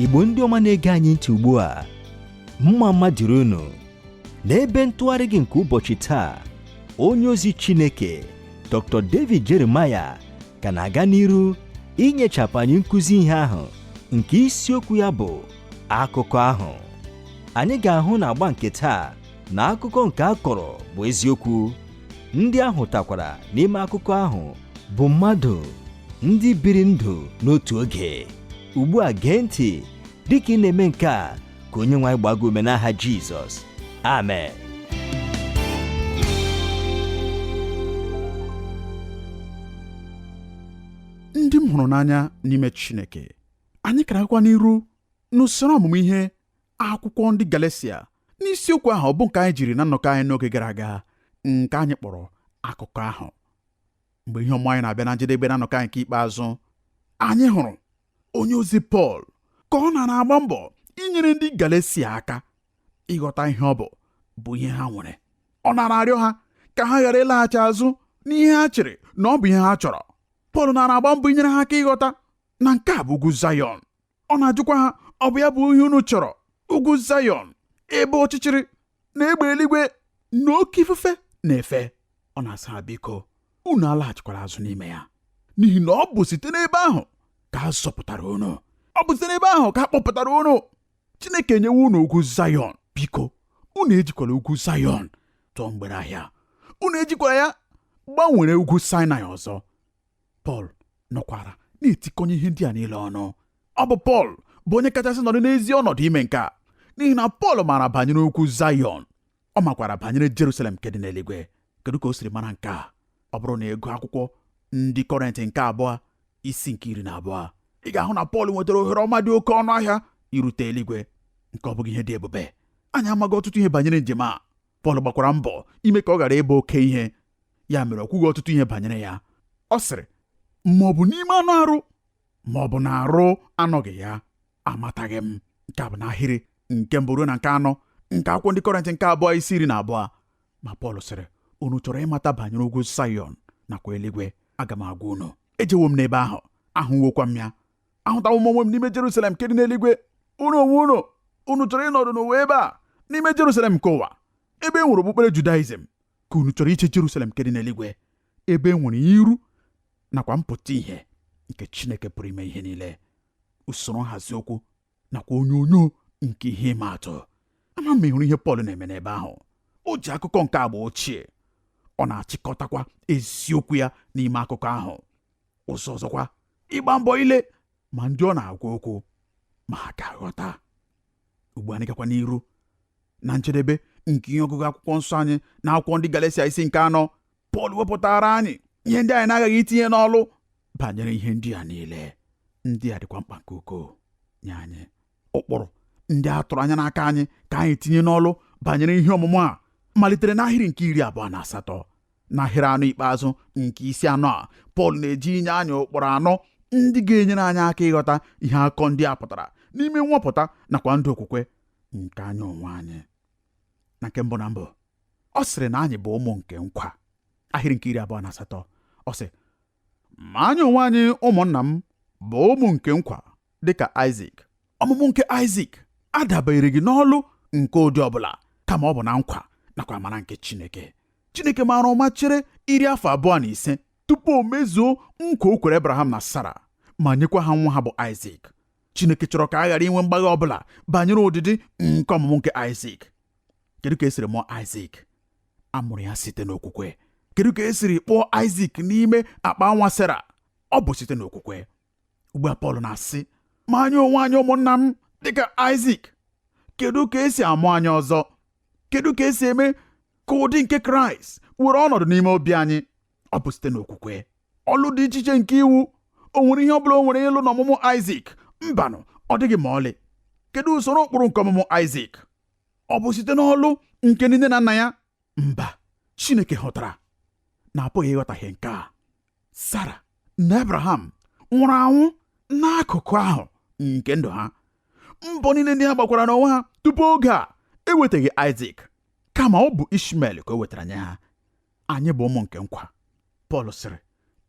igbo ndị ọma na-ege anyị ntị ugbu a mma mma dịrị unu n'ebe ntụgharị gị nke ụbọchị taa onye ozi chineke dr david jeremaya ka na-aga n'iru inyechapụ anyị nkụzi ihe ahụ nke isiokwu ya bụ akụkọ ahụ anyị ga-ahụ na agba nke taa na akụkọ nke a kọrọ bụ eziokwu ndị a hụtakwara n'ime akụkọ ahụ bụ mmadụ ndị biri ndụ n'otu oge ugbu a gee ntị dịka ị na-eme nke a ka onye nwe anyị gbaa gị ume n'aha Jizọs amen ndị m hụrụ n'anya n'ime Chineke anyị ka na-agakwa n'iru n'usoro ọmụmụ ihe akwụkwọ ndị Galatia n'isiokwu ahụ bụ nke anyị jiri na nnọkọ anyị n'oge gara aga nke anyị kpọrọ akụkọ ahụ mgbe ihe ọmụmụ anyị na-abịa na njedebe na nnọkọ anyị nke ikpeazụ anyị hụrụ onye ozi Pọl ka ọ nọ na-agba mbọ inyere ndị Galatia aka ịghọta ihe ọ bụ bụ ihe ha nwere ọ nara arịọ ha ka ha ghara ịlaghachi azụ n'ihe ha chere na ọ bụ ihe ha chọrọ Pọl nara agba mbọ inyere ha aka ịghọta na nke a bụ ugwu Zayọn ọ na-ajụkwa ha ọ bụ ya bụ ihe unu chọrọ ugwu Zayọn ebe ọchịchịrị na egbe eluigwe na oke ifufe na-efe ọ na-asị ha biko unu alaghachikwara azụ n'ime ya n'ihi na ọ bụ site n'ebe ahụ ka a zọpụtara unu ọ bụ site n'ebe ahụ ka a kpọpụtara unu Chineke enyewo unu ugwu Zayọn biko unu ejikwala ugwu Zayọn tụọ mgbere ahịa unu ejikwala ya gbanwere ugwu Saịnaị ọzọ pọl nọkwara na-etikọnye ihe ndị a niile ọnụ ọ bụ pọl bụ onye kachasị nọdụ n'ezi ọnọdụ ime nke a n'ihi na pọl maara banyere ugwu zayọn ọ makwara banyere jerusalem nke dị n'eluigwe kedu ka o siri mara nke a ọ bụrụ na ị gụọ akwụkwọ ndị kọrịnt nke abụọ isi nke iri na abụọ ị ga-ahụ na pọl nwetara ohere ọma dị oke ọnụ ahịa irute eluigwe nke a ọ bụghị ihe dị ebube anyị amaghị ọtụtụ ihe banyere njem a pọl gbakwara mbọ ime ka ọ ghara ịbụ oke ihe ya mere o kwughị ọtụtụ ihe banyere ya ọ sịrị ma ọ bụ n'ime anụ arụ ma ọ bụ na arụ anọghị ya amataghị m nke a bụ n'ahịrị nke mbụ ruo na nke anọ nke akwụkwọ ndị kọrịnt nke abụọ isi iri na abụọ ma Pọl sịrị unu chọrọ ịmata banyere ugwu Zayọn nakwa eluigwe aga m agwa unu ejewo m n'ebe ahụ ahụwokwa m ya ahụtawo m onwe m n'ime Jerusalem nke dị n'eluigwe unu onwe unu unu chọrọ ịnọdụ n'ụwa ebe a n'ime Jerusalem nke ụwa ebe e nwere okpukpere Judaizm ka unu chọrọ iche Jerusalem nke dị n'eluigwe ebe e nwere iru nakwa mpụta ihe nke Chineke pụrụ ime ihe niile usoro nhazi okwu nakwa onyonyo nke ihe ịma atụ ama m ị hụrụ ihe Pọl na-eme n'ebe ahụ o ji akụkọ nke agba ochie ọ na-achịkọtakwa eziokwu ya n'ime akụkọ ahụ ụzọ ọzọkwa ịgba mbọ ile ma ndị ọ na-agwa okwu ma ha ga-aghọta ugbu a anyị gakwa n'iru na njedebe nke ihe ọgụgụ akwụkwọ nsọ anyị na akwụkwọ ndị Galatia isi nke anọ Pọl wepụtaara anyị ihe ndị anyị na-aghaghị itinye n'ọlụ banyere ihe ndị a niile ndị a dịkwa mkpa nke ukwuu nye anyị ụkpụrụ ndị a tụrụ anya n'aka anyị ka anyị tinye n'ọlụ banyere ihe ọmụmụ a malitere n'ahịrị nke iri abụọ na asatọ n'ahịrị anọ ikpeazụ nke isi anọ a Pọl na-eje inye anyị ụkpụrụ anọ ndị ga-enyere anyị aka ịghọta ihe akụkọ ndị a pụtara n'ime nwapụta nakwa ndụ okwukwe nke anyị onwe anyị na nke mbụ na mbụ ọ sịrị na anyị bụ ụmụ nke nkwa ahịrị nke iri abụọ na asatọ ọ sị ma anyị onwe anyị ụmụnna m bụ ụmụ nke nkwa dịka Aịzik ọmụmụ nke Aịzik adabereghị n'ọlụ nke ụdị ọbụla kama ọ bụ na nkwa nakwa amara nke Chineke Chineke maara ụma chere iri afọ abụọ na ise tupu o mezuo nkwa o kwere Abraham na Sara ma nyekwa ha nwa ha bụ Aịzik Chineke chọrọ ka a ghara inwe mgbagha ọbụla banyere ụdịdị nke ọmụmụ nke Aịzik kedu ka e siri mụọ Aịzik a mụrụ ya site n'okwukwe kedu ka e siri kpụọ aịzik n'ime akpa nwa sera ọ bụ site n'okwukwe ugbu a pọl na-asị ma anyị onwe anyị ụmụnna m dịka aịzik kedu ka e si amụ anyị ọzọ kedu ka e si eme ka ụdị nke kraịst were ọnọdụ n'ime obi anyị ọ bụ site n'okwukwe ọlụ dị iche iche nke iwu o nwere ihe ọ bụla o nwere ịlụ n'ọmụmụ aịzik mbanụ ọ dịghị ma ọlị kedu usoro ụkpụrụ nke ọmụmụ aịzik ọ bụ site n'ọlụ nke nne na nna ya mba Chineke hụtara na a pụghị ịghọtahie nke a Sara na Abraham nwụrụ anwụ n'akụkụ ahụ nke ndụ ha mbọ niile ndị ha gbakwara n'onwe ha tupu oge a ewetaghị Aịzik kama ọ bụ Ishmael ka o wetara nye ha anyị bụ ụmụ nke nkwa Pọl sịrị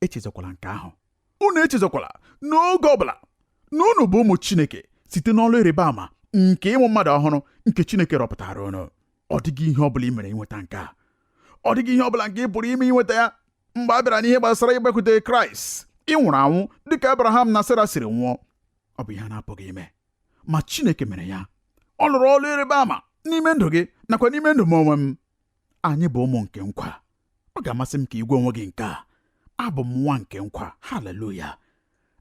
echezọkwala nke ahụ unu echezọkwala n'oge ọbụla na unu bụ ụmụ Chineke site n'ọlụ ịrịba ama nke ịmụ mmadụ ọhụrụ nke Chineke rọpụtaara unu ọ dịghị ihe ọbụla i mere inweta nke a ọ dịghị ihe ọbụla nke ị pụrụ ime inweta ya mgbe a bịara n'ihe gbasara ịgbakwute Kraịst ị nwụrụ anwụ dịka Abraham na Sera siri nwụọ ọ bụ ihe a na-apụghị ime ma Chineke mere ya ọ lụrụ ọlụ ịrịba ama n'ime ndụ gị nakwa n'ime ndụ m onwe m anyị bụ ụmụ nke nkwa ọ ga-amasị m ka ị gwa onwe gị nke a abụ m nwa nke nkwa haleluya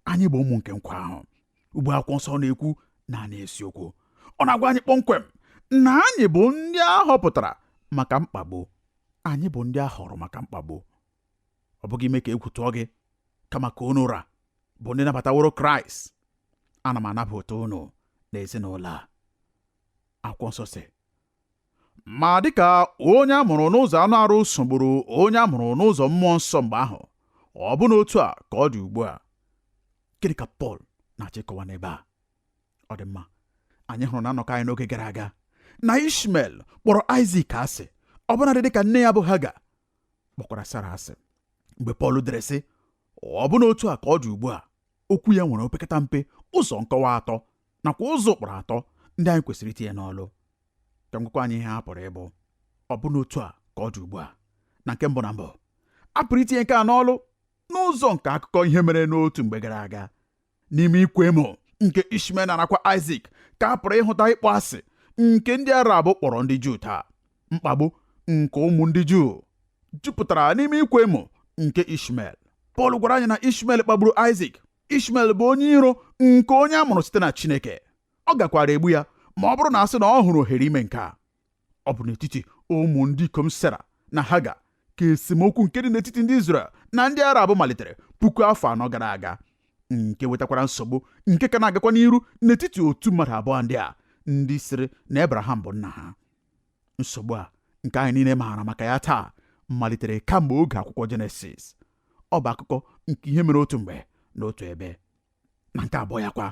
anyị bụ ụmụ nke nkwa ahụ ugbu a akwụkwọ nsọ na-ekwu naanị eziokwu ọ na-agwa anyị kpọmkwem na anyị bụ ndị a họpụtara maka mkpagbu anyị bụ ndị a họrọ maka mkpagbu ọ bụghị ime ka egwu tụọ gị kama ka unu ra bụ ndị nabataworo kraịst ana m anabata unu n'ezinụlọ a akwụkwọ nsọ sị Ma dịka onye a mụrụ n'ụzọ anụ arụ sogburu onye a mụrụ n'ụzọ mmụọ nsọ mgbe ahụ, ọ bụ n'otu a ka ọ dị ugbu a. Gịnị ka Pọl na-achọ ịkọwa n'ebe a? Ọ dị mma, anyị hụrụ na nnọkọ anyị n'oge gara aga na Ishmel kpọrọ Aịzik asị, ọbụnadị dịka nne ya bụ Haga kpọkwara Sara asị. Mgbe Pọl dere sị, ọ bụ n'otu a ka ọ dị ugbu a, okwu ya nwere opekata mpe ụzọ nkọwa atọ nakwa ụzọ ụkpụrụ atọ ndị anyị kwesịrị itinye n'ọlụ ka m gwakwa anyị ihe ha pụrụ ịbụ ọ bụ n'otu a ka ọ dị ugbu a na nke mbụ na mbụ a pụrụ itinye nke a n'ọlụ n'ụzọ nke akụkọ ihe mere n'otu mgbe gara aga n'ime ịkwa emo nke Ishmael nọ na-akwa Isaac ka a pụrụ ịhụta ịkpọ asị nke ndị Arab kpọrọ ndị Juu taa mkpagbu nke ụmụ ndị Juu jupụtara n'ime ịkwa emo nke Ishmael Pọl gwara anyị na Ishmael kpagburu Isaac Ishmel bụ onye iro nke onye a mụrụ site na Chineke ọ gakwaara egbu ya ma ọ bụrụ na a sị na ọ hụrụ ohere ime nke a ọ bụ n'etiti ụmụ ndị ikom Sera na Haga ka esemokwu nke dị n'etiti ndị Izrel na ndị Arab malitere puku afọ anọ gara aga nke wetakwara nsogbu nke ka na-agakwa n'iru n'etiti otu mmadụ abụọ ndị a ndị sịrị na Abraham bụ nna ha nsogbu a nke anyị niile maara maka ya taa malitere kamgbe oge akwụkwọ Jenesis ọ bụ akụkọ nke ihe mere otu mgbe n'otu ebe na nke abụọ ya kwa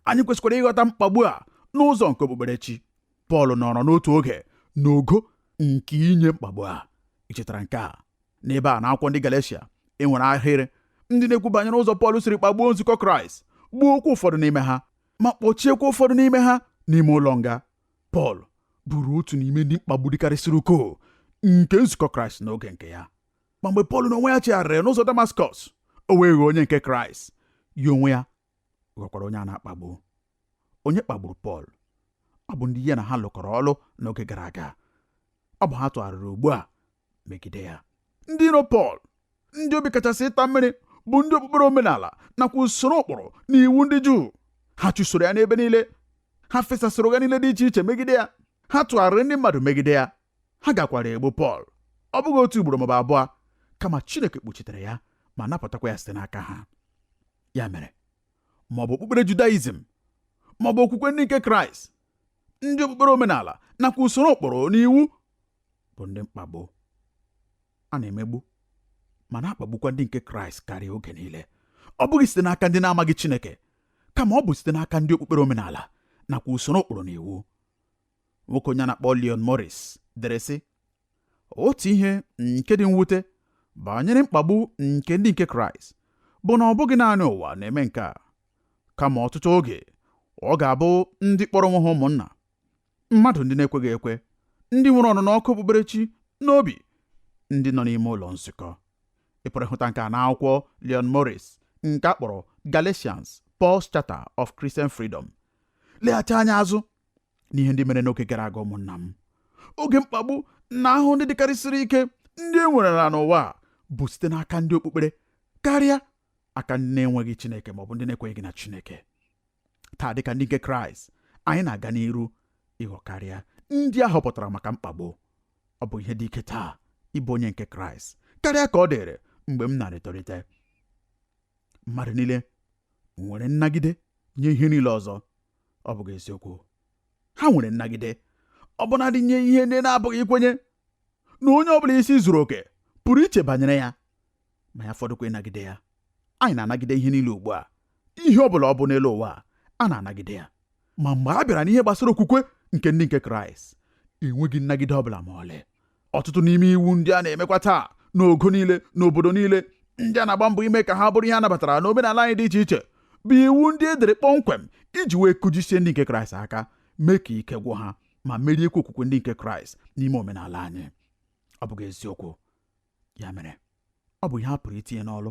anyị kwesịkwara ịghọta mkpagbu a n'ụzọ nke okpukperechi Pọl nọrọ n'otu oge n'ogo nke inye mkpagbu a ị chetara nke a n'ebe a n'akwụkwọ ndị Galeshia e nwere ahịrị ndị na-ekwu banyere ụzọ Pọl siri kpagbuo nzukọ Kraịst gbuokwa ụfọdụ n'ime ha ma kpọchiekwa ụfọdụ n'ime ha n'ime ụlọ nga Pọl bụrụ otu n'ime ndị mkpagbu dịkarịsịrị ukwuu nke nzukọ Kraịst n'oge nke ya ma mgbe Pọl n'onwe ya chegharịrị n'ụzọ Damaskọs o wee ghọọ onye nke Kraịst ya onwe ya ghọkwara onye a na-akpagbu onye kpagburu Pọl ọ bụ ndị ya na ha lụkọrọ ọlụ n'oge gara aga ọ bụ ha tụgharịrị ugbu a megide ya ndị iro Pọl ndị obi kachasị ịta mmiri bụ ndị okpukpere omenala nakwa usoro ụkpụrụ na iwu ndị Juu ha chụsoro ya n'ebe niile ha fesasịrị ụgha niile dị iche iche megide ya ha tụgharịrị ndị mmadụ megide ya ha gakwara egbu Pọl ọ bụghị otu ugboro maọbụ abụọ kama Chineke kpuchitere ya ma napụtakwa ya site n'aka ha ya mere maọbụ okpukpere Judaizm maọbụ okwukwe ndị nke Kraịst ndị okpukpere omenala nakwa usoro ụkpụrụ na iwu bụ ndị mkpagbu a na-emegbu ma na-akpagbukwa ndị nke Kraịst karịa oge niile ọ bụghị site n'aka ndị na-amaghị Chineke kama ọ bụ site n'aka ndị okpukpere omenala nakwa usoro ụkpụrụ na iwu nwoke onye a na-akpọ Leon Morris dere sị otu ihe nke dị mwute banyere mkpagbu nke ndị nke Kraịst bụ na ọ bụghị naanị ụwa na-eme nke a kama ọtụtụ oge ọ ga-abụ ndị kpọrọ onwe ha ụmụnna mmadụ ndị na-ekweghị ekwe ndị nwere ọnụnụ ọkụ okpukperechi n'obi ndị nọ n'ime ụlọ nzukọ ị pụrụ ịhụta nke a n'akwụkwọ Leon Morris nke a kpọrọ Galatians Paul's Charter of Christian Freedom leghachi anya azụ n'ihe ndị mere n'oge gara aga ụmụnna m oge mkpagbu na ahụhụ ndị dịkarịsịrị ike ndị e nwerela n'ụwa bụ site n'aka ndị okpukpere karịa aka ndị na-enweghị Chineke maọbụ ndị na-ekweghị na Chineke taa dịka ndị nke Kraịst anyị na-aga n'iru ịghọ karịa ndị a họpụtara maka mkpagbu ọ bụ ihe dị ike taa ịbụ onye nke Kraịst karịa ka ọ dịrị mgbe m na-etolite mmadụ niile nwere nnagide nye ihe niile ọzọ ọ bụghị eziokwu ha nwere nnagide ọbụnadị nye ihe ndị na-apụghị ikwenye na onye ọ bụla isi zuru oke pụrụ iche banyere ya ma ya fọdụkwa ịnagide ya anyị na-anagide ihe niile ugbu a ihe ọ bụla ọ bụ n'elu ụwa a na-anagide ya ma mgbe a bịara n'ihe gbasara okwukwe nke ndị nke kraịst enweghị nnagide ọ bụla ma ọlị ọtụtụ n'ime iwu ndị a na-emekwa taa n'ogo niile n'obodo niile ndị a na-agba mbọ ime ka ha bụrụ ihe a nabatara n'omenala anyị dị iche iche bụ iwu ndị e dere kpọmkwem iji wee kụjisie ndị nke kraịst aka mee ka ike gwụ ha ma meriekwa okwukwe ndị nke kraịst n'ime omenala anyị ọ bụghị eziokwu ya mere ọ bụ ihe a pụrụ itinye n'ọlụ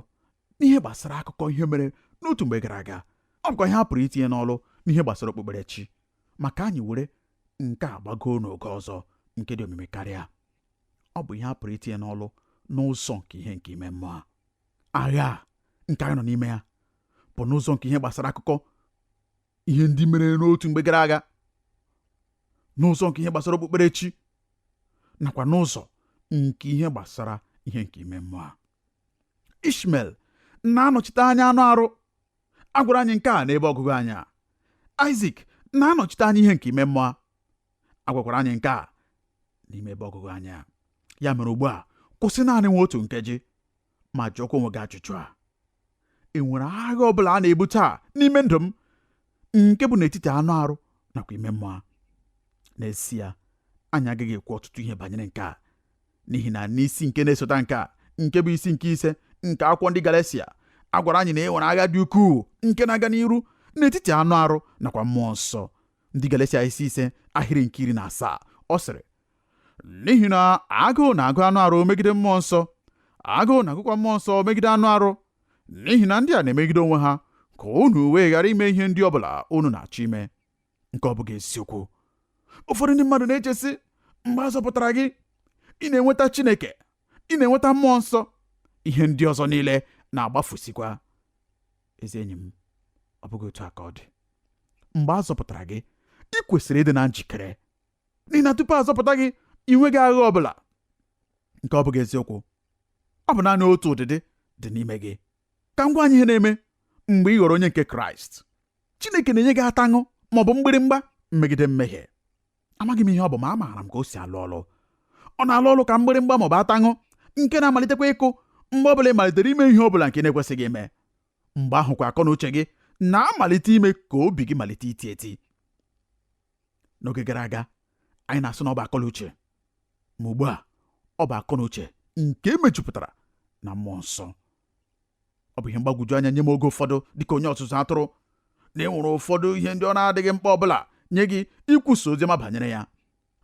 n'ihe gbasara akụkọ ihe mere n'otu mgbe gara aga ọ bụkwa ihe a pụrụ itinye n'ọlụ n'ihe gbasara okpukperechi ma ka anyị were nke a gbagoo n'ogo ọzọ nke dị omimi karịa ọ bụ ihe a pụrụ itinye n'ọlụ n'ụzọ nke ihe nke ime mmụọ agha nke anyị nọ n'ime ya bụ n'ụzọ nke ihe gbasara akụkọ ihe ndị mere n'otu mgbe gara aga n'ụzọ nke ihe gbasara okpukperechi nakwa n'ụzọ nke ihe gbasara ihe nke ime mmụọ ishmel na-anọchite anya anụ arụ a gwara anyị nke a n'ebe ọgụgụ anyị a aịzik na-anọchite anya ihe nke ime mmụọ a gwakwara anyị nke a n'ime ebe ọgụgụ anyị a ya mere ugbu a kwụsị naanị nwa otu nkeji ma jụọkwa onwe gị ajụjụ a e nwere agha ọ bụla a na-ebu taa n'ime ndụ m nke bụ n'etiti anụ arụ nakwa ime mmụọ n'ezie anyị agaghị ekwu ọtụtụ ihe banyere nke a n'ihi na n'isi nke na-esota nke a nke bụ isi nke ise nke akwụkwọ ndị Galatia a gwara anyị na e nwere agha dị ukwuu nke na-aga n'iru n'etiti anụ arụ nakwa mmụọ nsọ ndị Galatia isi ise ahịrị nke iri na asaa ọ sịrị n'ihi na agụụ na-agụ anụ arụ megide mmụọ nsọ agụụ na-agụkwa mmụọ nsọ megide anụ arụ n'ihi na ndị a na-emegide onwe ha ka unu wee ghara ime ihe ndị ọ bụla unu na-achọ ime nke ọ bụghị eziokwu ụfọdụ ndị mmadụ na-eche sị mgbe a zọpụtara gị ị na-enweta Chineke ị na-enweta mmụọ nsọ ihe ndị ọzọ niile na-agbafusikwa ezi enyi m ọ bụghị otu a ka ọ dị mgbe a zọpụtara gị ị kwesịrị ịdị na njikere n'ihi na tupu a zọpụta gị ị nweghị agha ọ bụla nke ọ bụghị eziokwu ọ bụ naanị otu ụdịdị dị n'ime gị ka m gwa anyị ihe na-eme mgbe ị ghọrọ onye nke kraịst chineke na-enye gị ataṅụ ma ọ bụ mgbịrịmgba megide mmehie amaghị m ihe ọ bụ ma amaara m ka o si alụ ọlụ ọ na-alụ ọlụ ka mgbịrịmgba ma ọ bụ ataṅụ nke na-amalitekwa ịkụ mgbe ọ bụla ị malitere ime ihe ọ bụla nke ị na-ekwesịghị ime mgbe ahụkwa akọ na uche gị na-amalite ime ka obi gị malite iti eti n'oge gara aga anyị na-asị na ọ bụ akọ na uche ma ugbu a ọ bụ akọ na uche nke e mejupụtara na mmụọ nsọ ọ bụ ihe mgbagwoju anya nye m oge ụfọdụ dịka onye ọzụzụ atụrụ na e nwere ụfọdụ ihe ndị ọ na-adịghị mkpa ọ bụla nye gị ikwusa oziọma banyere ya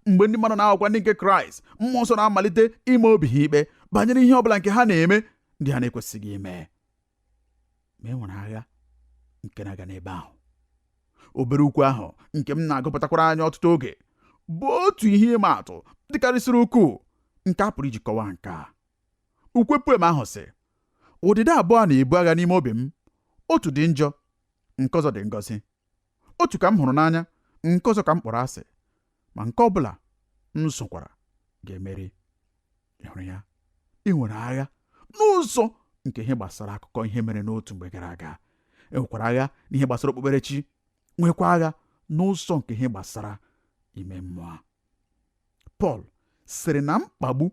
mgbe ndị mmadụ na-aghọkwa ndị nke kraịst mmụọ nsọ na-amalite ịma obi ha ikpe banyere ihe ọ bụla nke ha na-eme ndị ha na-ekwesịghị ime ma e nwere agha nke na-aga n'ebe ahụ obere ukwe ahụ nke m na-agụpụtakwara anyị ọtụtụ oge bụ otu ihe ịma atụ dịkarịsịrị ukwuu nke a pụrụ iji kọwaa nke a ukwe poem ahụ sị ụdịdị abụọ na-ebu agha n'ime obi m otu dị njọ nke ọzọ dị ngọzi otu ka m hụrụ n'anya nke ọzọ ka m kpọrọ asị ma nke ọ bụla m zụkwara ga-emeri ị hụrụ ya e nwere agha n'ụzọ nke ihe gbasara akụkọ ihe mere n'otu mgbe gara aga e nwekwara agha n'ihe gbasara okpukperechi nwekwa agha n'ụzọ nke ihe gbasara ime mmụọ Pọl sịrị na mkpagbu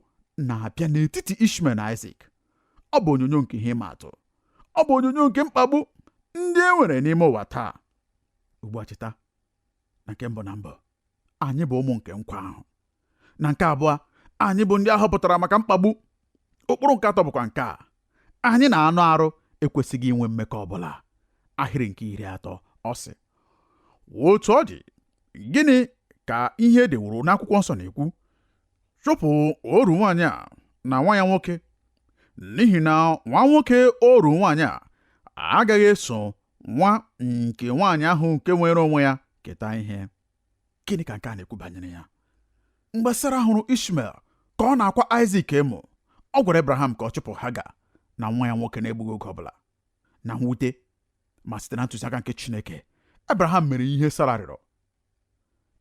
na-abịa n'etiti Ishmael na Isaac ọ bụ onyonyo nke ihe ịma atụ ọ bụ onyonyo nke mkpagbu ndị e nwere n'ime ụwa taa ugbu a cheta na nke mbụ na mbụ anyị bụ ụmụ nke nkwa ahụ na nke abụọ anyị bụ ndị a họpụtara maka mkpagbu ụkpụrụ nke atọ bụkwa nke a anyị na anụ arụ ekwesịghị inwe mmekọ ọ bụla ahịrị nke iri atọ ọ sị otu ọ dị gịnị ka ihe e deworo n'akwụkwọ nsọ na-ekwu chụpụ oru nwaanyị a na nwa ya nwoke n'ihi na nwa nwoke oru nwaanyị a agaghị eso nwa nke nwaanyị ahụ nke nwere onwe ya keta ihe gịnị ka nke a na-ekwu banyere ya mgbe Sara hụrụ Ishmael ka ọ na-akwa Aịzik emo ọ gwara Abraham ka ọ chụpụ Haga na nwa ya nwoke na-egbughị oge ọbụla na mwute ma site na ntụziaka nke Chineke Abraham mere ihe Sara rịọrọ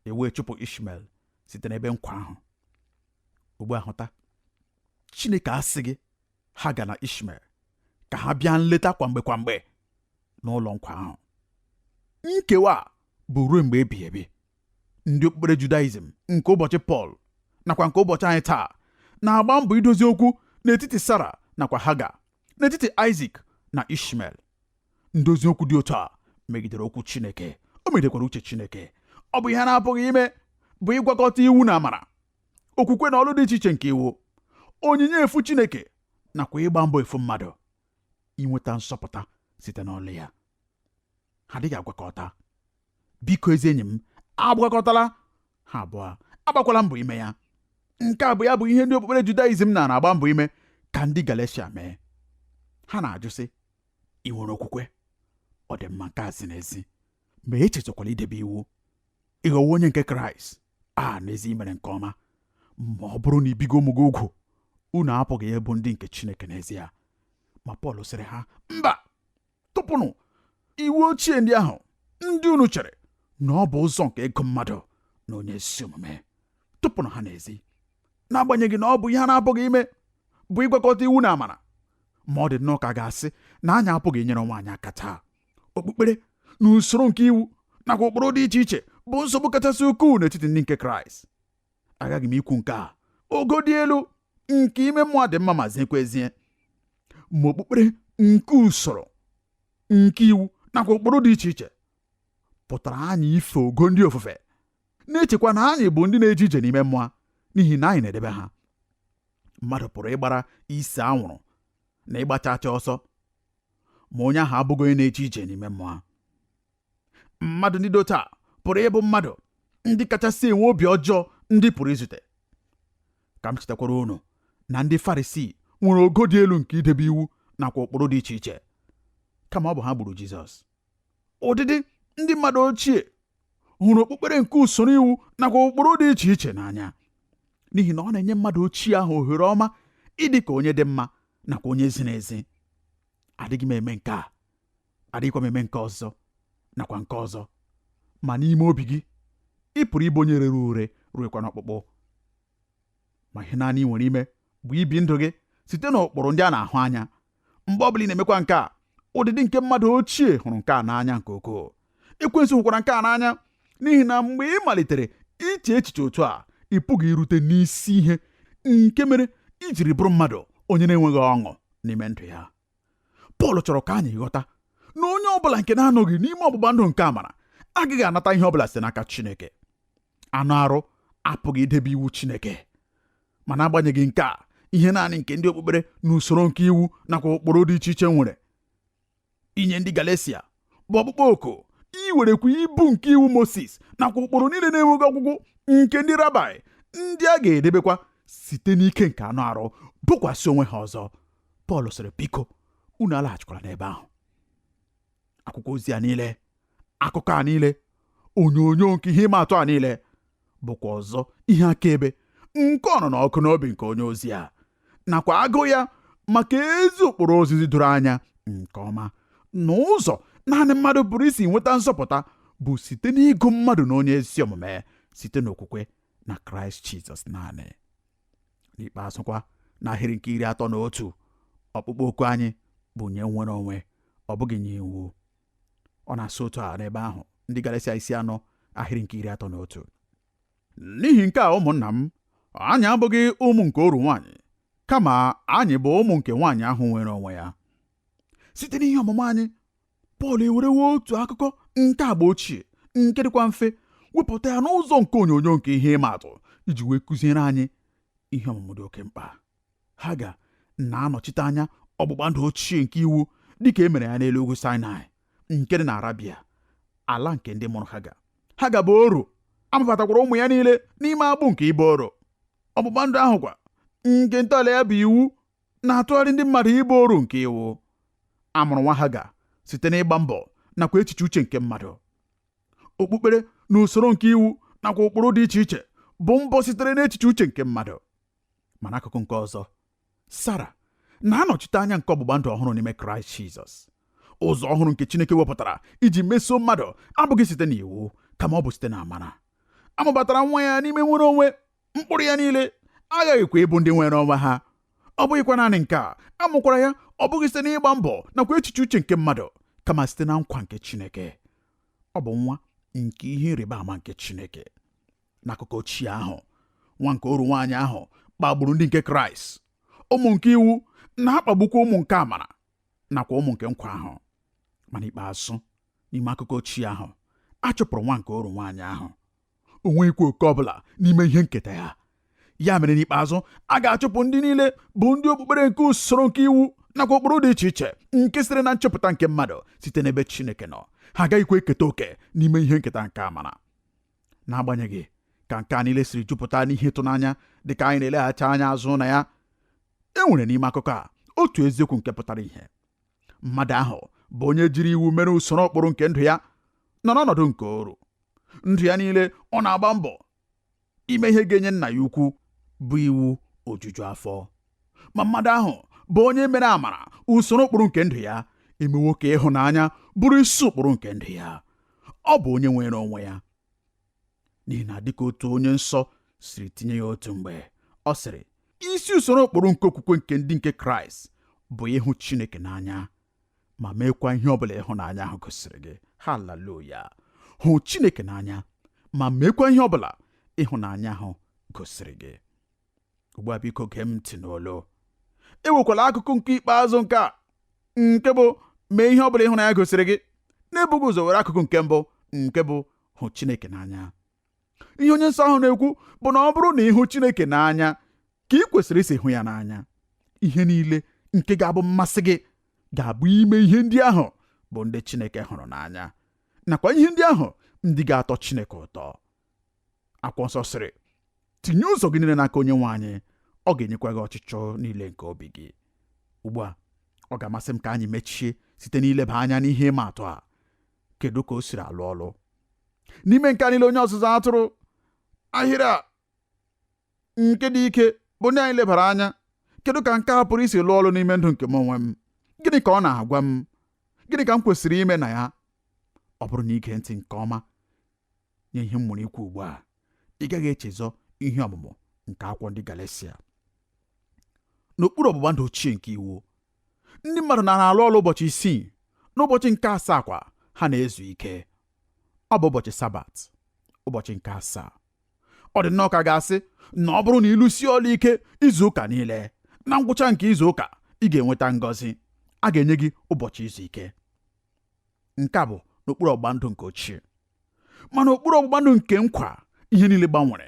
e wee chụpụ ishmael site n'ebe nkwa ahụ ugbu a hụta chineke asịghị haga na ishmael ka ha bịa nleta kwa mgbe kwa mgbe n'ụlọ nkwa ahụ nkewa bụ ruo mgbe ebighị ebi ndị okpukpere judaizm nke ụbọchị pọl nakwa nke ụbọchị anyị taa na-agba mbọ idozi okwu n'etiti sara nakwa haga n'etiti aịzik na ishmael ndozi okwu dị otu a megidere okwu Chineke o megidekwara uche Chineke ọ bụ ihe a na-apụghị ime bụ ịgwakọta iwu na amara okwukwe na ọlụ dị iche iche nke iwu onyinye efu Chineke nakwa ịgba mbọ efu mmadụ inweta nzọpụta site n'ọlụ ya ha adịghị agwakọta biko ezi enyi m agwakọtala ha abụọ agbakwala mbọ ime ya nke a bụ ya bụ ihe ndị okpukpere judaizm na na-agba mbọ ime ka ndị galeshia mee ha na-ajụ sị ị nwere okwukwe ọ dị mma nke a ziri ezi ma echezọkwala idebe iwu ị ghọwo onye nke kraịst a n'ezi i mere nke ọma ma ọ bụrụ na i bighị ụmụ gị ugwu unu apụghị ịbụ ndị nke chineke n'ezie ma pọl sịrị ha mba tụpụnụ iwu ochie ndị ahụ ndị unu chere na ọ bụ ụzọ nke ịgụ mmadụ n'onye ezi omume tụpụnụ ha n'ezi n'agbanyeghị na ọ bụ ihe a na-apụghị ime bụ ịgwakọta iwu na amara ma ọ dị nnọọ ka a ga-asị na anyị apụghị inyere onwe anyị aka taa okpukpere na usoro nke iwu nakwa ụkpụrụ dị iche iche bụ nsogbu kachasị ukwuu n'etiti ndị nke kraịst aghaghị m ikwu nke a ogo dị elu nke ime mmụọ dị mma ma ziekwa ezie ma okpukpere nke usoro nke iwu nakwa ụkpụrụ dị iche iche pụtara anyị ife ogo ndị ofufe na-echekwa na anyị bụ ndị na-eje ije n'ime mmụọ n'ihi na anyị na-edebe ha mmadụ pụrụ ịgbara ise anwụrụ na ịgba chacha ọsọ ma onye ahụ abụghị onye na-eje ije n'ime mmụọ mmadụ ndị dị otu a pụrụ ịbụ mmadụ ndị kachasị enwe obi ọjọọ ndị ị pụrụ izute ka m chetakwara unu na ndị farisii nwere ogo dị elu nke idebe iwu nakwa ụkpụrụ dị iche iche kama ọ bụ ha gburu jizọs ụdịdị ndị mmadụ ochie hụrụ okpukpere nke usoro iwu nakwa ụkpụrụ dị iche iche n'anya n'ihi na ọ na-enye mmadụ ochie ahụ ohere ọma ịdị ka onye dị mma nakwa onye ziri ezi adịghị m eme nke a adịghịkwa m eme nke ọzọ nakwa nke ọzọ ma n'ime obi gị ị pụrụ ịbụ onye rere ure ruekwa n'ọkpụkpụ ma ihe naanị ị nwere ime bụ ibi ndụ gị site n'ụkpụrụ ndị a na-ahụ anya mgbe ọ bụla ị na-emekwa nke a ụdịdị nke mmadụ ochie hụrụ nke a n'anya nke ukwuu ekwensu hụkwara nke a n'anya n'ihi na mgbe ị malitere iche echiche otu a ị pụghị irute n'isi ihe nke mere i jiri bụrụ mmadụ onye na-enweghị ọṅụ n'ime ndụ ya Pọl chọrọ ka anyị ghọta na onye ọ bụla nke na-anọghị n'ime ọgbụgba ndụ nke amara agaghị anata ihe ọ bụla site n'aka Chineke anụ arụ apụghị idebe iwu Chineke ma n'agbanyeghị nke a ihe naanị nke ndị okpukpere na usoro nke iwu nakwa ụkpụrụ dị iche iche nwere inye ndị Galesia bụ ọkpụkpọ oku iwerekwa ibu nke iwu Moses nakwa ụkpụrụ niile na-enweghị ọgwụgwụ nke ndị rabai ndị a ga-edebekwa site n'ike nke anụ arụ bukwasị onwe ha ọzọ Pọl sịrị biko unu alaghachikwala n'ebe ahụ akwụkwọ ozi a niile akụkọ a niile onyonyo nke ihe ịma atụ a niile bụkwa ọzọ ihe akaebe nke ọnụnụ ọkụ n'obi nke onye ozi a nakwa agụụ ya maka ezi ụkpụrụ ozizi doro anya nke ọma na ụzọ naanị mmadụ pụrụ isi nweta nzọpụta bụ site n'ịgụ mmadụ na onye ezi omume site n'okwukwe na kraịst jizọs naanị n'ikpeazụkwa n'ahịrị nke iri atọ na otu ọkpụkpọ oku anyị bụ nye nnwere onwe ọ bụghị nye iwu ọ na-asị otu a n'ebe ahụ ndị Galeshia isi anọ ahịrị nke iri atọ na otu n'ihi nke a ụmụnna m anyị abụghị ụmụ nke oru nwaanyị kama anyị bụ ụmụ nke nwaanyị ahụ nwere onwe ya site n'ihe ọmụmụ anyị Pọl ewerewo otu akụkọ nke agba ochie nke dịkwa mfe wepụta ya n'ụzọ nke onyonyo nke ihe ịma atụ iji wee kụziere anyị ihe ọmụmụ dị oke mkpa Haga na-anọchite anya ọgbụgba ndụ ochie nke iwu dịka e mere ya n'elu ugwu Sinai nke dị na Arabia ala nke ndị mụrụ Haga Haga bụ oru a mụbatakwara ụmụ ya niile n'ime agbụ nke ịbụ oru ọgbụgba ndụ ahụ kwa nke ntọala ya bụ iwu na-atụgharị ndị mmadụ ịbụ oru nke iwu a mụrụ nwa haga site n'ịgba mbọ nakwa echiche uche nke mmadụ okpukpere na usoro nke iwu nakwa ụkpụrụ dị iche iche bụ mbọ sitere n'echiche uche nke mmadụ ma n'akụkụ nke ọzọ sara na-anọchite anya nke ọgbụgba ndụ ọhụrụ n'ime kraịst jizọs ụzọ ọhụrụ nke chineke wepụtara iji mesoo mmadụ abụghị site n'iwu kama ọ bụ site na amara a mụbatara nwa ya n'ime nnwere onwe mkpụrụ ya niile aghaghịkwa ịbụ ndị nwere onwe ha ọ bụghịkwa naanị nke a a mụkwara ya ọ bụghị site n'ịgba mbọ nakwa echiche uche nke mmadụ kama site na nkwa nke Chineke ọ bụ nwa nke ihe ịrịba ama nke Chineke n'akụkọ ochie ahụ nwa nke oru nwaanyị ahụ kpagburu ndị nke Kraịst ụmụ nke iwu na-akpagbukwa ụmụ nke amara nakwa ụmụ nke nkwa ahụ ma n'ikpeazụ n'ime akụkọ ochie ahụ a chụpụrụ nwa nke oru nwaanyị ahụ o nweghịkwa oke ọbụla n'ime ihe nketa ya ya mere n'ikpeazụ a ga-achụpụ ndị niile bụ ndị okpukpere nke usoro nke iwu nakwa ụkpụrụ dị iche iche nke siri na nchepụta nke mmadụ site n'ebe Chineke nọ ha agaghịkwa eketa oke n'ime ihe nketa nke amara n'agbanyeghị ka nke a niile siri jupụta n'ihe ịtụnanya dị ka anyị na-eleghachi anya azụ na ya e nwere n'ime akụkọ a otu eziokwu nke pụtara ihe mmadụ ahụ bụ onye jiri iwu mere usoro ụkpụrụ nke ndụ ya nọ n'ọnọdụ nke oru ndụ ya niile ọ na-agba mbọ ime ihe ga-enye nna ya ukwu bụ iwu ojuju afọ ma mmadụ ahụ bụ onye mere amara usoro ụkpụrụ nke ndụ ya emewo ka ịhụnanya bụrụ isi ụkpụrụ nke ndụ ya ọ bụ onye nwere onwe ya n'ihi na dịka otu onye nsọ siri tinye ya otu mgbe ọ sịrị isi usoro ụkpụrụ nke okwukwe nke ndị nke kraịst bụ ịhụ chineke n'anya ma meekwa ihe ọ bụla ịhụnanya ahụ gosiri gị haleluya hụ chineke n'anya ma meekwa ihe ọ bụla ịhụnanya ahụ gosiri gị ugbu a biko gee m ntị n'olu ewekwala akụkụ nke ikpeazụ nke a nke bụ mee ihe ọ bụla ịhụnanya gosiri gị n'ebughị ụzọ were akụkụ nke mbụ nke bụ hụ Chineke n'anya ihe onye nsọ ahụ na-ekwu bụ na ọ bụrụ na ị hụ Chineke n'anya ka ị kwesịrị isi hụ ya n'anya ihe niile nke ga-abụ mmasị gị ga-abụ ime ihe ndị ahụ bụ ndị Chineke hụrụ n'anya nakwa ihe ndị ahụ ndị ga-atọ Chineke ụtọ akwụkwọ nsọ sịrị tinye ụzọ gị niile n'aka onye nwe anyị ọ ga-enyekwa gị ọchịchọ niile nke obi gị ugbu a ọ ga-amasị m ka anyị mechie site n'ileba anya n'ihe ịma atụ a kedu ka o siri alụ ọlụ n'ime nke a niile onye ọzụzụ atụrụ ahịrị a nke dị ike bụ ndị anyị lebara anya kedu ka nke a pụrụ isi lụọ ọlụ n'ime ndụ nke m onwe m gịnị ka ọ na-agwa m gịnị ka m kwesịrị ime na ya ọ bụrụ na i gee ntị nke ọma nye ihe m nwere ikwu ugbu a ị gaghị echezọ ihe ọmụmụ nke akwụkwọ ndị Galatia n'okpuru ọgbụgba ndụ ochie nke iwu ndị mmadụ na-alụ ọlụ ụbọchị isii n'ụbọchị nke asaa kwa ha na-ezu ike ọ bụ ụbọchị sabat ụbọchị nke asaa ọ dị nnọọ ka a ga-asị na ọ bụrụ na ị lụsie ọlụ ike izu ụka niile na ngwụcha nke izu ụka ị ga-enweta ngọzi a ga-enye gị ụbọchị izu ike nke a bụ n'okpuru ọgbụgba ndụ nke ochie ma n'okpuru ọgbụgba ndụ nke nkwa ihe niile gbanwere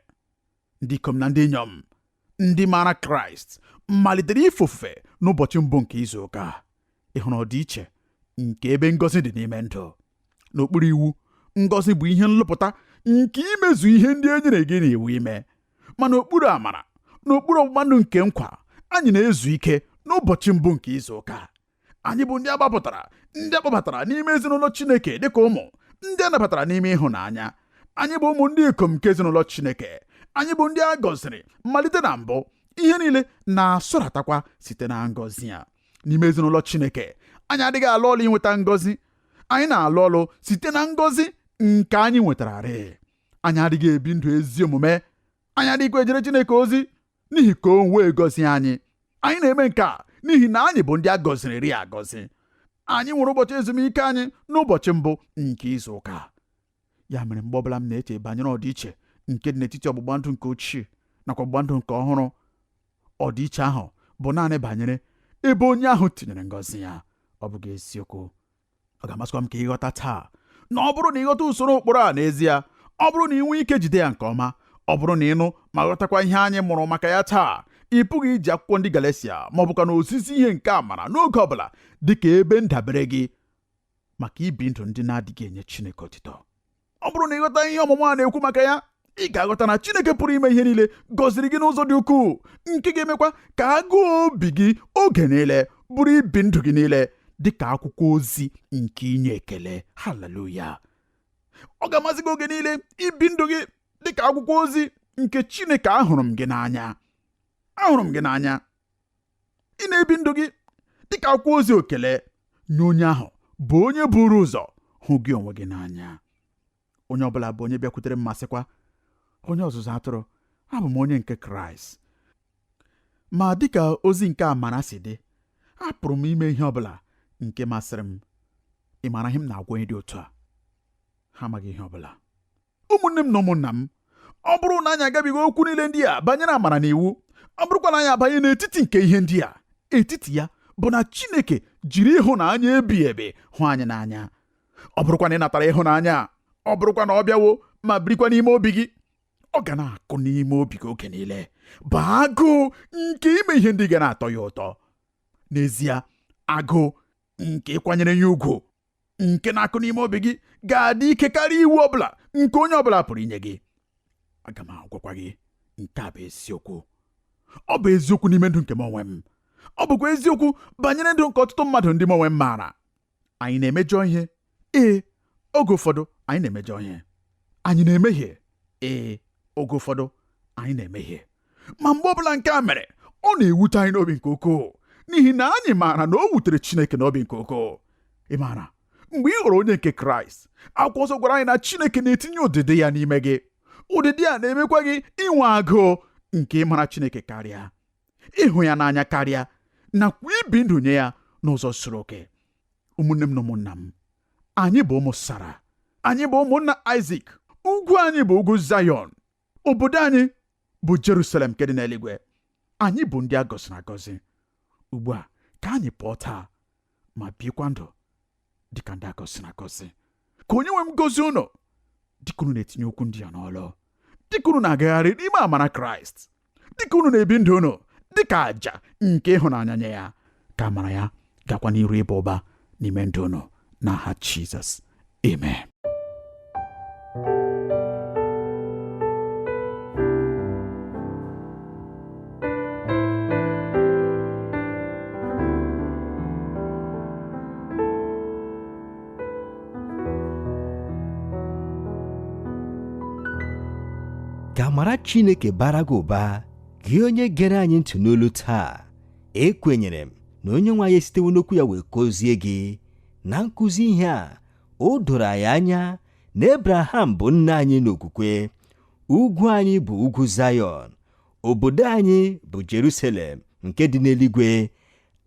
ndị ikom na ndị inyom ndị maara kraịst malitere ife ofufe n'ụbọchị mbụ nke izu ụka ị hụrụ ọdịiche nke ebe ngọzi dị n'ime ndụ n'okpuru iwu ngọzi bụ ihe nlụpụta nke imezu ihe ndị e nyere gị n'iwu ime ma n'okpuru amara n'okpuru ọgbụgba ndụ nke nkwa anyị na-ezu ike n'ụbọchị mbụ nke izu ụka anyị bụ ndị a gbapụtara ndị a kpọbatara n'ime ezinụlọ Chineke dịka ụmụ ndị a nabatara n'ime ịhụnanya anyị bụ ụmụ ndị ikom nke ezinụlọ Chineke anyị bụ ndị a gọziri malite na mbụ ihe niile na-asọratakwa site na ngọzi a n'ime ezinụlọ Chineke anyị adịghị alụ ọlụ inweta ngọzi anyị na-alụ ọlụ site na ngọzi nke anyị nwetararịị anyị adịghị ebi ndụ ezi omume anyị adịghịkwa ejere Chineke ozi n'ihi ka o wee gọzie anyị anyị na-eme nke a n'ihi na anyị bụ ndị a gọziriri agọzi anyị nwere ụbọchị ezumike anyị n'ụbọchị mbụ nke izu ụka ya mere mgbe ọbụla m na-eche banyere ọdịiche nke dị n'etiti ọgbụgba ndụ nke ochie nakwa ọgbụgba ndụ nke ọhụrụ ọdịiche ahụ bụ naanị banyere ebe onye ahụ tinyere ngọzi ya ọ bụghị eziokwu ọ ga-amasịkwa m ka ị ghọta taa na ọ bụrụ na ị ghọta usoro ụkpụrụ a n'ezie ọ bụrụ na i nwee ike jide ya nke ọma ọ bụrụ na ị nụ ma ghọtakwa ihe anyị mụrụ maka ya taa ị pụghị iji akwụkwọ ndị Galatia ma ọ bụkwanụ ozizi ihe nke amara n'oge ọ bụla dị ka ebe ndabere gị maka ibi ndụ ndị na-adịghị enye Chineke otito ọ bụrụ na ị ghọta ihe ọmụmụ a na-ekwu maka ya ị ga-aghọta na Chineke pụrụ ime ihe niile gọziri gị n'ụzọ dị ukwuu nke ga-emekwa ka agụụ obi gị oge niile bụrụ ibi ndụ gị niile dị ka akwụkwọ ozi nke inye ekele haleluya ọ ga-amasị gị oge niile ibi ndụ gị dị ka akwụkwọ ozi nke Chineke ahụrụ m gị n'anya ahụrụ m gị n'anya ị na-ebi ndụ gị dịka akwụkwọ ozi ekele nye onye ahụ bụ onye buru ụzọ hụ gị onwe gị n'anya onye ọbụla bụ onye bịakwutere m ma sịkwa onye ọzụzụ atụrụ abụ m onye nke kraịst ma dịka ozi nke amara si dị apụrụ m ime ihe ọbụla nke masịrị m ị maara ihe m na-agwa onye dị otu a ha amaghị ihe ọbụla ụmụnne m na ụmụnna m ọ bụrụ na anyị agabiga okwu niile ndị a banyere amara na iwu ọ bụrụkwa na anyị abanye n'etiti nke ihe ndị a etiti ya bụ na Chineke jiri ịhụnanya ebighị ebi hụ anyị n'anya ọ bụrụkwa na ị natara ịhụnanya a ọ bụrụkwa na ọ bịawo ma birikwa n'ime obi gị ọ ga na-akụ n'ime obi gị oge niile bụ agụụ nke ime ihe ndị ga na-atọ ya ụtọ n'ezie agụụ nke ịkwanyere ya ugwu nke na-akụ n'ime obi gị ga-adị ike karịa iwu ọbụla nke onye ọbụla pụrụ inye gị aga m agwakwa gị nke a bụ eziokwu ọ bụ eziokwu n'ime ndụ nke m onwe m ọ bụkwa eziokwu banyere ndụ nke ọtụtụ mmadụ ndị m onwe m maara anyị na-emejọ ihe ee oge ụfọdụ anyị na-emejọ ihe anyị na-emehie ee oge ụfọdụ anyị na-emehie ma mgbe ọ bụla nke a mere ọ na-ewute anyị n'obi nke ukwuu n'ihi na anyị maara na o wutere Chineke n'obi nke ukwuu ị maara mgbe ị ghọrọ onye nke Kraịst akwụkwọ nsọ gwara anyị na Chineke na-etinye ụdịdị ya n'ime gị ụdịdị a na-emekwa gị inwe agụụ nke ịmara Chineke karịa ịhụ ya n'anya karịa nakwa ibi ndụ nye ya n'ụzọ zuru oke ụmụnne m na ụmụnna m anyị bụ ụmụ Sara anyị bụ ụmụnna Aịzik ugwu anyị bụ ugwu Zayọn obodo anyị bụ Jerusalem nke dị n'eluigwe anyị bụ ndị a gọziri agọzi ugbu a ka anyị pụọ taa ma bikwa ndụ dịka ndị a gọziri agọzi ka onye nwe m gọzie unu dịka unu na-etinye okwu ndị a n'ọlụ dịka unu na-agagharị n'ime amara kraịst dịka unu na-ebi ndụ unu dịka àjà nke ịhụnanya nye ya ka amara ya gakwa n'iru ịba ụba n'ime ndụ unu n'aha Jizọs amen ka amara Chineke bara gị ụba gị onye gere anyị ntị n'olu taa ekwenyere m na onye nwe anyị esitewo n'okwu ya wee kụzie gị na nkụzi ihe a o doro anyị anya na ebraham bụ nna anyị n'okwukwe ugwu anyị bụ ugwu zayọn obodo anyị bụ jerusalem nke dị n'eluigwe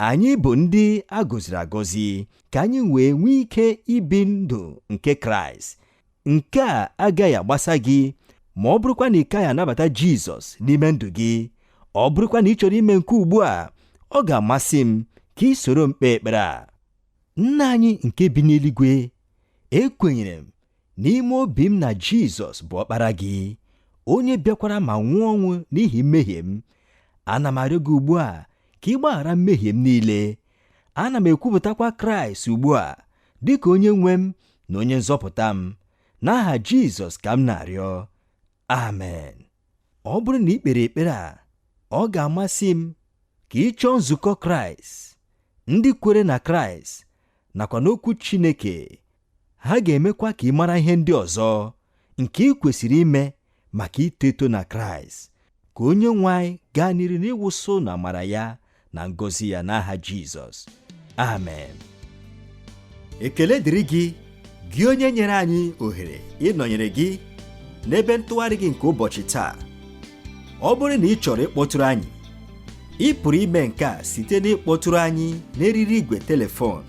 anyị bụ ndị a gọziri agọzi ka anyị wee nwee ike ibi ndụ nke kraịst nke a agaghị agbasa gị ma ọ bụrụkwa na ị kaghị anabata Jizọs n'ime ndụ gị ọ bụrụkwa na ị chọrọ ime nke ugbu a ọ ga-amasị m ka i soro m kpee ekpere a nna anyị nke bi n'eluigwe ekwenyere m n'ime obi m na Jizọs bụ ọkpara gị onye bịakwara ma nwụọ ọnwụ n'ihi mmehie m ana m arịọ gị ugbu a ka ị gbaghara mmehie m niile ana m ekwupụtakwa kraịst ugbu a dị ka onye nwe m na onye nzọpụta m n'aha jizọs ka m na-arịọ amen ọ bụrụ na i kpere ekpere a ọ ga-amasị m ka ị chọọ nzukọ kraịst ndị kwere na kraịst nakwa n'okwu chineke Ha ga-emekwa ka ị mara ihe ndị ọzọ nke i kwesịrị ime maka ito eto na Kraịst. Ka onye nwe anyị gaa n'iru n'ịwụsị ụnụ amara ya na ngọzi ya n'aha Jizọs. Amen. Ekele dịrị gị, gị onye nyere anyị ohere ịnọnyere gị n'ebe ntụgharị gị nke ụbọchị taa. Ọ bụrụ na ị chọrọ ịkpọtụrụ anyị, ị pụrụ ime nke a site n'ịkpọtụrụ anyị n'eriri igwe telefon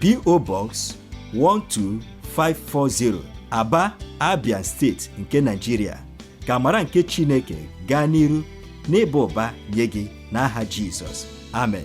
PO Box 12540 Aba Abia steeti nke Nigeria ka amara nke Chineke gaa n'iru n'ịba ụba nye gị n'aha Jizọs amen